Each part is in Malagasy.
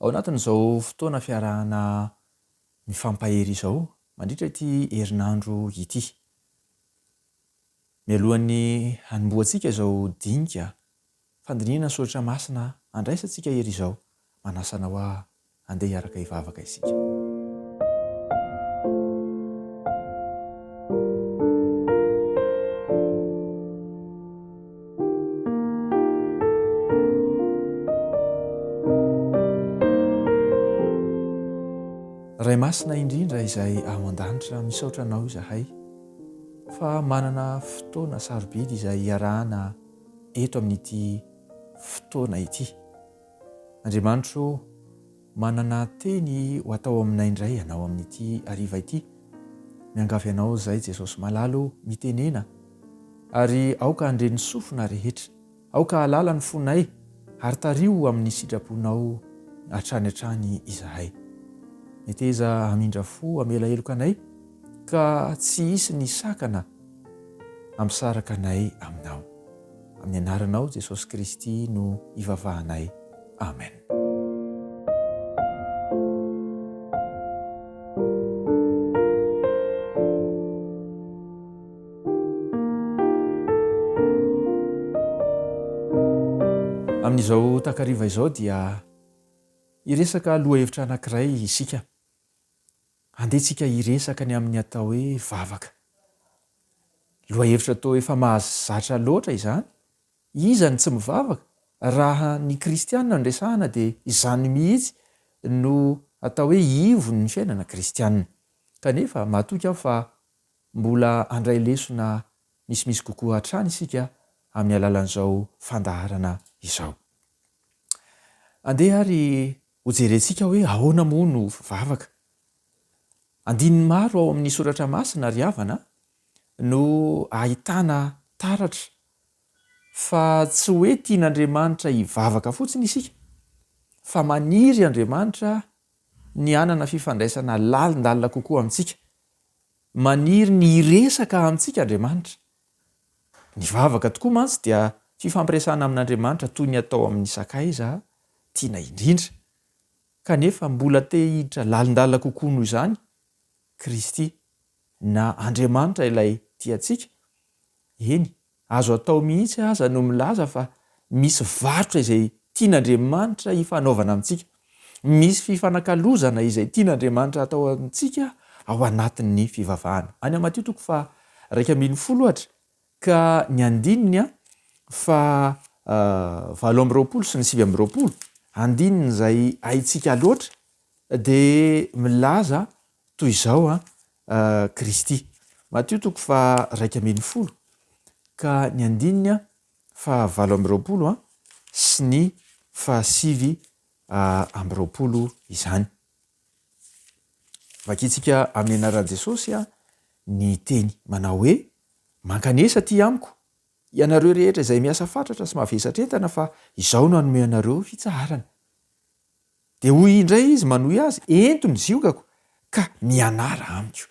Ao anatin'izao fotoana fiarahana mifampahery izao mandritra ity herinandro ity. Mialohan'ny hanombohantsika izao dinika fandinihana soratra masina handraisantsika ery izao, manasa anao aho handeha hiaraka hivavaka isika. Ray Masina indrindra izay ao an-danitra, misaotra Anao izahay fa manana fotoana sarobidy izay hiarahana eto amin'ity fotoana ity. Andriamanitro o! Manana teny ho atao aminay indray ianao amin'ity hariva ity. Miangavy anao izay Jesosy malala o, mitenena ary aoka handre ny sofina rehetra. Aoka hahalala ny fonay ary tariho amin'ny sitraponao hatrany hatrany izahay. Meteza hamindra fo hamela heloka anay ka tsy hisy ny sakana hampisaraka anay aminao. Amin'ny anaranao Jesosy Kristy no ivavahanay. Amen. Amin'izao takariva izao dia hiresaka lohahevitra anankiray isika. Handeha tsika hiresaka ny amin'ny atao hoe vavaka. Lohahevitra toa efa mahazatra loatra izany Iza no tsy mivavaka? Raha ny kristiana no resahana dia izany mihitsy no atao hoe ivon'ny fiainana kristiana. Kanefa matoky aho fa mbola handray lesona misimisy kokoa hatrany isika amin'ny alalan'izao fandaharana izao. Andeha ary hojerentsika hoe ahoana moa no vavaka. Andininy maro ao amin'ny soratra masina ry havana no ahitana taratra Fa tsy hoe tian'Andriamanitra hivavaka fotsiny isika, fa maniry Andriamanitra ny hanana fifandraisana lalindalina kokoa amintsika. Maniry ny hiresaka amintsika Andriamanitra. Ny vavaka tokoa mantsy dia fifampiresahana amin'Andriamanitra toy ny atao amin'ny sakaiza tiana indrindra. Kanefa mbola te hiditra lalindalina kokoa noho izany Kristy, na Andriamanitra ilay tiantsika, Eny, azo atao mihitsy aza no milaza fa misy varotra izay tian'Andriamanitra hifanaovana amintsika. Misy fifanakalozana izay tian'Andriamanitra hatao amintsika ao anatin'ny fivavahana. Any Matio toko faha iraika ambin'ny folo, ohatra, ka ny andininy faha valo amby roapolo sy ny sivy amby roapolo, andininy izay haintsika loatra, dia milaza Toy izao an, Kristy. Matio toko faha raika ambin'ny folo ka ny andininy faha valo amby roapolo sy ny faha sivy amby roapolo izany. Vakintsika amin'ny anaran'i Jesosy ny teny manao hoe, Mankanesa aty amiko, ianareo rehetra izay miasa fatratra sy mavesatra entana fa izaho no hanome anareo fitsaharana. Dia hoy indray izy manohy azy, Ento ny ziogako ka mianara amiko.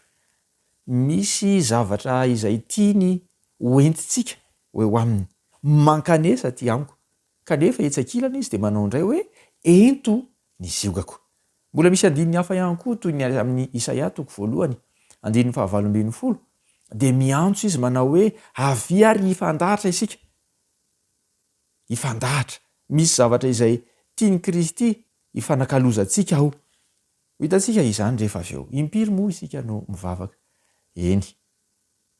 Misy zavatra izay tiany hoentintsika ho eo aminy. Mankanesa aty amiko. Kanefa etsy ankilany izy dia manao indray hoe, Ento ny ziogako. Mbola misy andininy hafa ihany koa toy ny amin'ny Isaia toko voalohany, andininy fahavalo ambin'ny folo, dia miantso izy manao hoe, Avia ary hifandratra isika. hifandahatra. Misy zavatra izay tian'i Kristy hifanakalozantsika ao. Ho hitantsika izany rehefa avy eo. Impiry moa isika no mivavaka? Eny.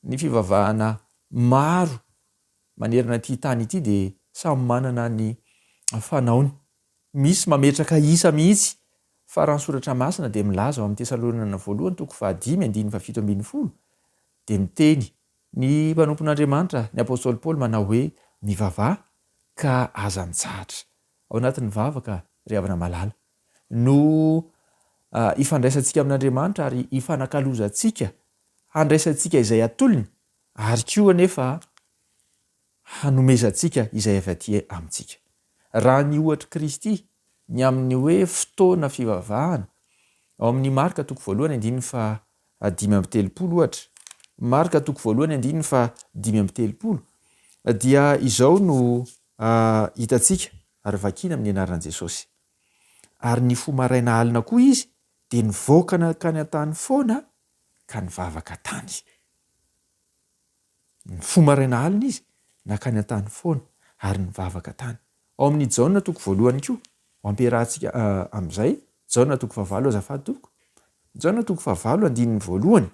Ny fivavahana maro manerana ity tany ity dia samy manana ny fanaony. Misy mametraka isa mihitsy, fa raha ny Soratra Masina dia milaza ao amin'ny Tesaloniana Voalohany toko fahadimy andininy fahafito ambin'ny folo dia miteny Ny mpanompon'Andriamanitra, ny apostoly Paoly manao hoe, Mivavaha, ka aza mitsahatra. Ao anatin'ny vavaka, ry havana malala, no ifandraisantsika amin'Andriamanitra ary ifanakalozantsika handraisantsika izay atolony, ary koa anefa hanomezantsika izay avy aty amintsika. Raha ny ohatr'i Kristy, ny amin'ny hoe fotoana fivavahana, ao amin'ny Marka toko voalohany andininy faha dimy amby telopolo, ohatra, Marka toko voalohany andininy faha dimy amby telopolo, dia izao no hitantsika ary vakina amin'ny anaran'i Jesosy. Ary ny fo maraina alina koa izy dia nivoaka nankany an-tany foana ka nivavaka tany. Mifoha maraina alina izy nankany an-tany foana ary nivavaka tany. Ao amin' ny Jaona toko voalohany koa ho ampiarahantsika amin' izay. Jaona toko fahavalo azafady tompoko. Jaona toko fahavalo andininy voalohany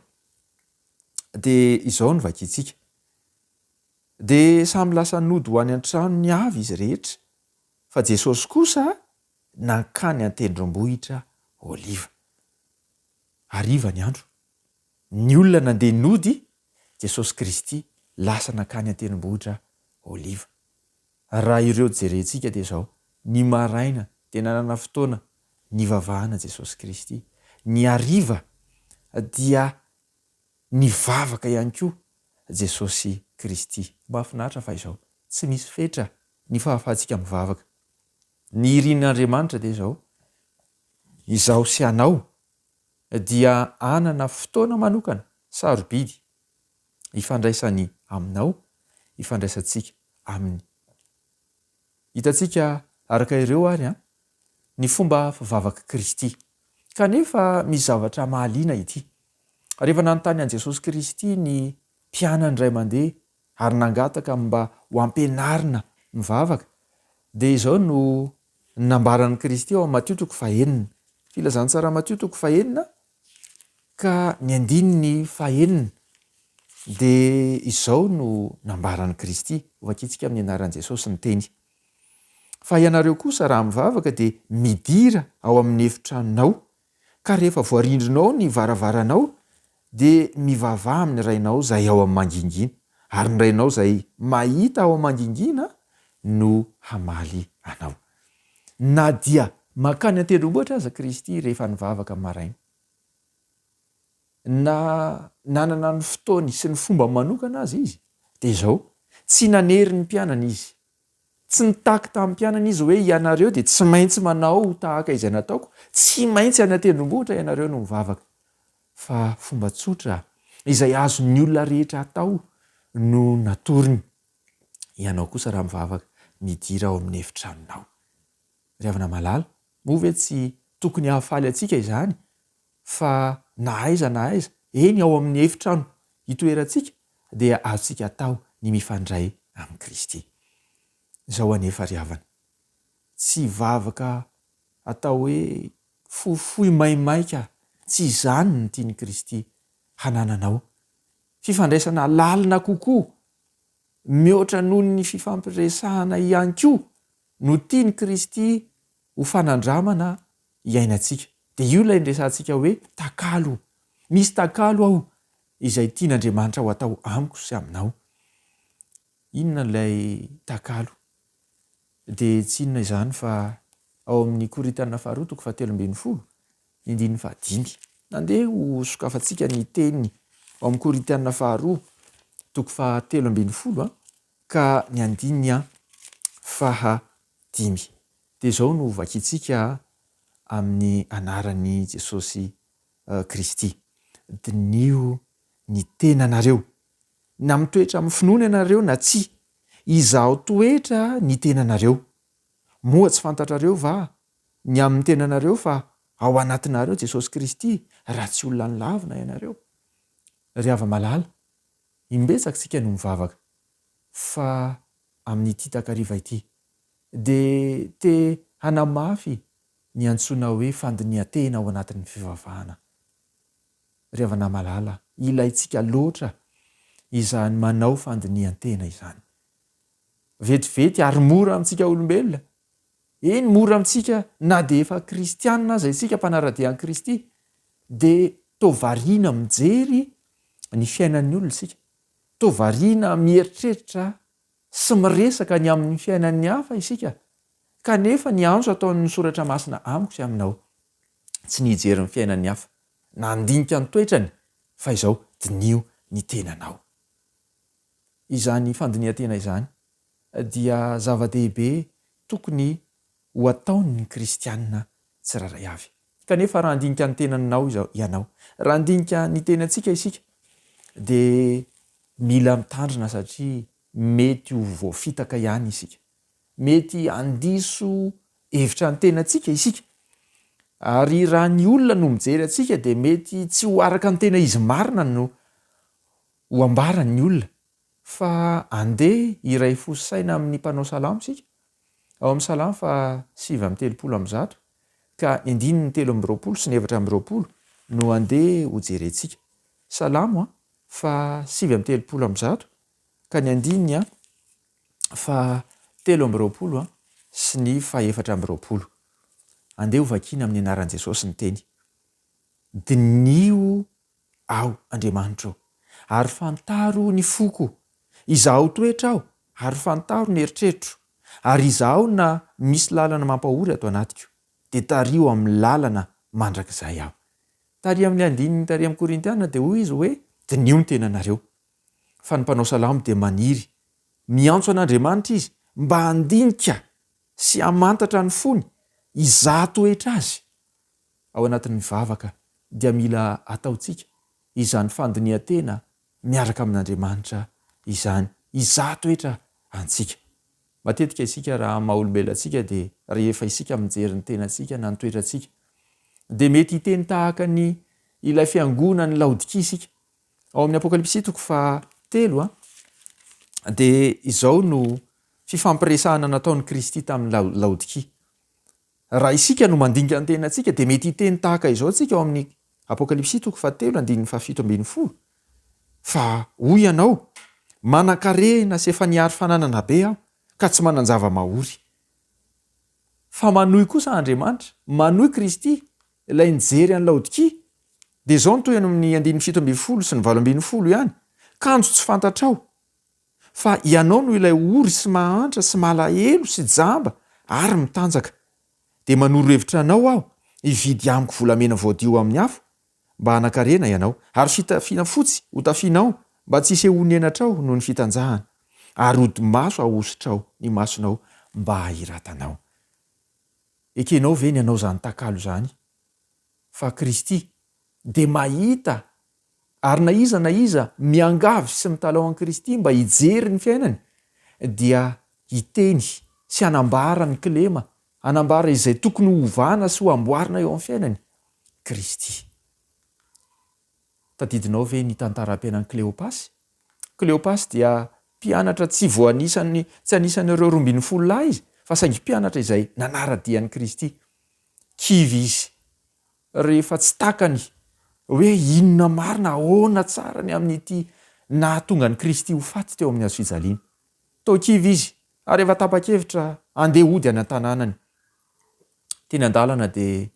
dia izao no vakintsika. Dia samy lasa nody ho any an-tranony avy izy rehetra, fa Jesosy kosa nankany an-tendrombohitra Oliva. Hariva ny andro. Ny olona nandeha nody, Jesosy Kristy lasa nankany an-tendrombohitra Oliva. Raha ireo jerentsika dia izao, ny maraina dia nanana fotoana nivavahana Jesosy Kristy, ny hariva dia nivavaka ihany koa Jesosy Kristy. Mahafinaritra fa izao, tsy misy fetra ny fahafahantsika mivavaka. Ny irin'Andriamanitra dia izao, izaho sy ianao dia hanana fotoana manokana sarobidy hifandraisany aminao, hifandraisantsika aminy. Hitantsika araka ireo ary ny fomba fivavak'i Kristy. Kanefa misy zavatra mahaliana ity. Rehefa nanontany an'i Jesosy Kristy ny mpianany iray mandeha ary nangataka ny mba ho ampianarina mivavaka, dia izao no nambaran'i Kristy ao amin'ny Matio toko fahenina, Filazantsara Matio toko fahenina ka ny andininy fahenina, dia izao no nambaran'i Kristy, hovakintsika amin'ny anaran'i Jesosy ny teny, Fa ianareo kosa raha mivavaka dia midira ao amin'ny efitranonao Ka rehefa voarindrinao ny varavaranao dia mivavaha amin'ny Rainao izay ao amin'ny mangingina, ary ny Rainao izay mahita ao amin'ny mangingina no hamaly anao. Na dia mankany an-tendrombohitra aza Kristy rehefa nivavaka maraina, na nanana ny fotoany sy ny fomba manokana aza Izy, dia izao, Tsy nanery ny mpianany Izy, Tsy nitaky tamin'ny mpianany Izy hoe, Ianareo dia tsy maintsy manao ho tahaka izay nataoko, tsy maintsy any an-tendrombohitra ianareo no mivavaka. Fa fomba tsotra izay azon'ny olona rehetra atao no natoriny, Ianao kosa raha mivavaka, midira ao amin'ny efitranonao. Ry havana malala, moa ve tsy tokony hahafaly antsika izany fa na aiza na aiza, eny ao amin'ny efitrano hitoerantsika, dia azontsika atao ny mifandray amin'i Kristy. Izao anefa ry havana, tsy vavaka atao hoe fohifohy maimaika, tsy izany no tian'i Kristy hanananao. Fifandraisana lalina kokoa, mihoatra noho ny fifampiresahana ihany koa no tian'i Kristy ho fanandramana iainantsika. Dia io ilay niresahantsika hoe takalo. Misy takalo ao izay tian'Andriamanitra ho atao amiko sy aminao. Inona ilay takalo? Dia tsy inona izany fa ao amin'ny Korintiana faharoa toko fahatelo ambin'ny folo, ny andininy fahadimy. Nandeha ho sokafantsika ny teny ao amin'ny Korintiana faharoa toko fahatelo ambin'ny folo ka ny andininy fahadimy. Dia izao no vakintsika amin'ny anaran'i Jesosy Kristy, Diniho ny tenanareo, na mitoetra amin'ny finoana ianareo na tsia, Izaho toetra ny tenanareo. Moa tsy fantatrareo va ny amin'ny tenanareo fa ao anatinareo Jesosy Kristy raha tsy olona nilavina ianareo? Ry hava-malala, imbetsaka isika no mivavaka fa amin'ity takariva ity dia te hanamafy ny antsoina hoe fandinihan-tena ao anatin'ny fivavahana. Ry havana malala, ilaintsika loatra izany manao fandinihan-tena izany. Vetivety ary mora amintsika olombelona, eny mora amintsika na dia efa kristianina aza isika mpanara-dia an'i Kristy, dia toa variana mijery ny fiainan'ny olona isika, toa variana mieritreritra Tsy miresaka ny amin'ny fiainan'ny hafa isika, kanefa ny antso ataon'ny Soratra Masina amiko sy aminao, tsy ny hijery ny fiainan'ny hafa, na handinika ny toetrany, fa izao, diniho ny tenanao. Izany fandinihan-tena izany dia zava-dehibe tokony ho ataon'ny kristiana tsirairay avy. Kanefa raha handinika ny tenanao izao ianao, raha handinika ny tenantsika isika dia mila mitandrina satria mety ho voafitaka ihany isika. Mety handiso hevitra ny tenantsika isika ary raha ny olona no mijery antsika dia mety tsy ho araka ny tena izy marina no ho ambaran'ny olona. Fa andeha hiray fo sy saina amin'ny mpanao salamo isika ao amin'ny salamo faha sivy amby telopolo amby zato. ka ny andininy telo amby roapolo sy ny efatra amby roapolo no andeha ho jerentsika. Salamo a, fa sivy amby telopolo amby zato ka ny andininy a fa telo amby roapolo a sy ny fa efatra amby roapolo. Andeha ho vakiana amin'ny anaran'i Jesosy ny teny. Diniho Aho, Andriamanitra ô, ary fantaro ny foko, izaho toetra aho, ary fantaro ny eritreritro, ary izaho na misy lalana mampahory ato anatiko, dia tariho amin'ny lalana mandrakizay aho. Taria amin'ny andininy taria amin'ny Korintiana dia hoy izy hoe, Diniho ny tenanareo, fa ny mpanao salamo dia maniry, miantso an'Andriamanitra izy mba handinika sy hamantatra ny fony, izaho toetra azy. ao anatin'ny vavaka dia mila ataontsika izany fandinihan-tena miaraka amin'Andriamanitra izany hizaha toetra antsika. Matetika isika raha amin'ny maha-olombelona antsika dia rehefa isika mijery ny tenantsika na ny toetrantsika dia mety hiteny tahaka ny ilay fiangonan'i Laodikia isika. Ao amin'ny Apokalypsy toko faha telo a, dia izao no fifampiresahana nataon'i Kristy tamin'i Laodikia. Raha isika no mandinika ny tenantsika, dia mety hiteny tahaka izao isika ao amin'ny Apokalypsy toko fahatelo andininy fahafito ambin'ny folo, Fa hoy ianao, Manan-karena sy efa nihary fananana be aho, ka tsy manan-java-mahory. Fa manohy kosa Andriamanitra, manohy Kristy, ilay nijery an'i Laodikia, dia izao no tohiny amin'ny andininy fito ambin'ny folo sy ny valo ambin'ny folo ihany, Kanjo tsy fantatrao, fa Ianao no ilay ory sy mahantra sy malahelo sy jamba ary mitanjaka. Dia manoro hevitra Anao aho hividy amiko volamena voadio amin'ny afo mba hanakarena Ianao, ary fitafiana fotsy hotafianao mba tsy hisehoan'ny henatrao noho ny fitanjahana, ary odi-maso ahosotrao ny masonao mba hahiratanao. Ekenao ve ny hanao izany takalo izany? fa Kristy, dia mahita ary na iza na iza miangavy sy mitalaho an'i Kristy mba hijery ny fiainany dia hiteny sy hanambara ny kilema, hanambara izay tokony ho ovana sy ho amboarina eo amin'ny fiainany, Kristy. Tadidinao ve ny tantaram-piainan'i Kleopasy? Kleopasy dia mpianatra tsy voanisan'ny, tsy anisan'ireo roa ambin'ny folo lahy izy fa saingy mpianatra izay nanara-dia an'i Kristy. kivy izy rehefa tsy takany hoe inona marina, ahoana tsara ny amin'ity nahatonga an'i Kristy ho faty teo amin'ny hazofijaliana. Toa kivy izy ary efa tapa-kevitra handeha hody any an-tanànany. Teny an-dalana dia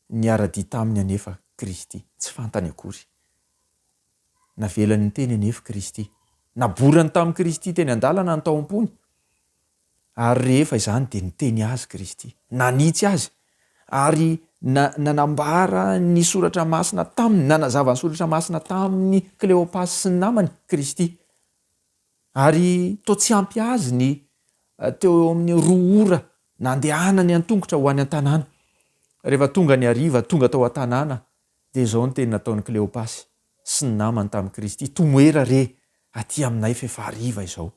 niara-dia taminy anefa Kristy. Tsy fantany akory. Navelany niteny anefa Kristy. Naborany tamin'i Kristy teny an-dalana ny taompony. Ary rehefa izany dia niteny azy Kristy, nanitsy azy, ary na, nanambara ny Soratra Masina taminy, nanazava ny Soratra Masina tamin'i Kleopasy sy ny namany, Kristy. Ary toa tsy ampy azy ny eh, teo eo amin'ny roa ora nandehanany an-tongotra ho any an-tanàna. Rehefa tonga ny hariva, tonga tao an-tanàna, dia izao ny teny nataon'i Kleopasy sy ny namany tamin'i Kristy, Tomoera re aty aminay f'efa hariva izao.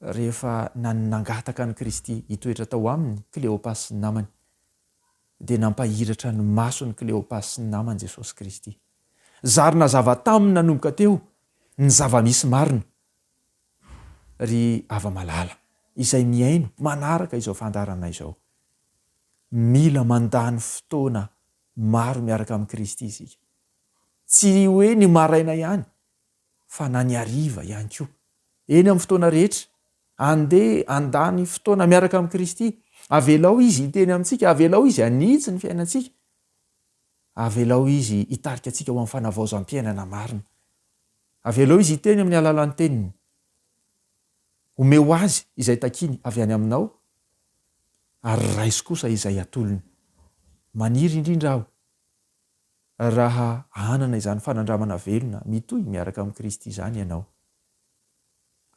Rehefa nangataka an'i Kristy hitoetra tao aminy Kleopas sy ny namany, dia nampahiratra ny mason'i Kleopas sy ny namany Jesosy Kristy. Zary nazava taminy nanomboka teo ny zava-misy marina, ry hava-malala izay mihaino manaraka izao fandaharana izao. Mila mandany fotoana maro miaraka amin'i Kristy isika. Tsy hoe ny maraina ihany fa na ny hariva ihany koa. Eny amin'ny fotoana rehetra, andeha handany fotoana miaraka amin'i Kristy. Avelao Izy hiteny amintsika, avelao Izy hanitsy ny fiainantsika, avelao Izy hitarika antsika ho amin'ny fanavaozam-piainana marina. Avelao Izy hiteny amin'ny alalan'ny Teniny. Omeo Azy izay takiany avy any Aminao, ary raiso kosa izay atolony. Maniry indrindra aho Raha hanana izany fanandramana velona mitohy miaraka amin'i Kristy izany ianao,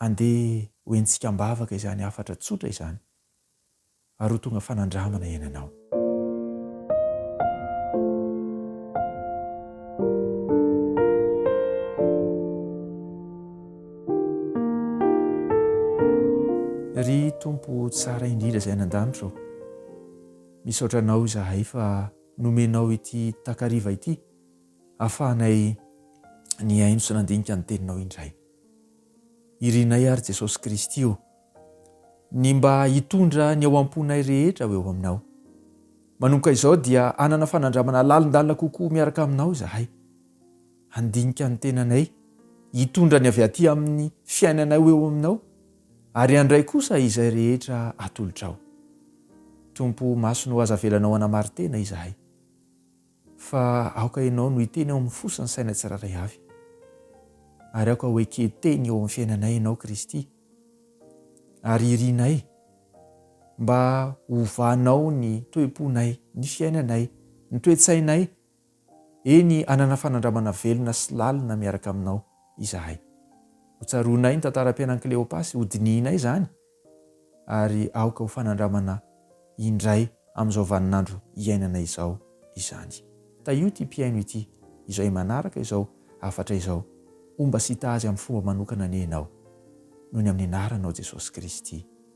andeha ho henontsika am-bavaka izany hafatra tsotra izany, ary ho tonga fanandramana iainanao. Ry Tompo tsara indrindra izay any an-danitra ô, misaotra Anao izahay fa. nomenao ity takariva ity ahafahanay nihaino sy nandinika ny teninao indray. Irinay ary Jesosy Kristy ô, ny mba hitondra ny ao am-ponay rehetra ho eo aminao. Manomboka izao dia hanana fanandramana lalindalina kokoa miaraka aminao izahay. Handinika ny tenanay, hitondra ny avy aty amin'ny fiainanay ho eo aminao, Ary handray kosa izay rehetra atolotrao. Tompo, maso no aza avelanao hanamari-tena izahay. Fa aoka Ianao no hiteny ao amin'ny fo sy ny saina tsirairay avy. Ary aoka ho eken-teny eo amin'ny fiainanay Ianao Kristy. Ary irinay mba hovanao ny toe-ponay, ny fiainanay, ny toe-tsainay, Eny, hanana fanandramana velona sy lalina miaraka aminao izahay. Hotsaroanay ny tantaram-piainan'i Kleopa sy hodinihinay izany, ary aoka ho fanandramana indray amin'izao vaninandro iainanay izao izany. Tahio ity mpihaino ity izay manaraka izao hafatra izao, homba sy hitaha azy amin'ny fomba manokana anie ianao, noho ny amin'ny anaranao Jesosy Kristy.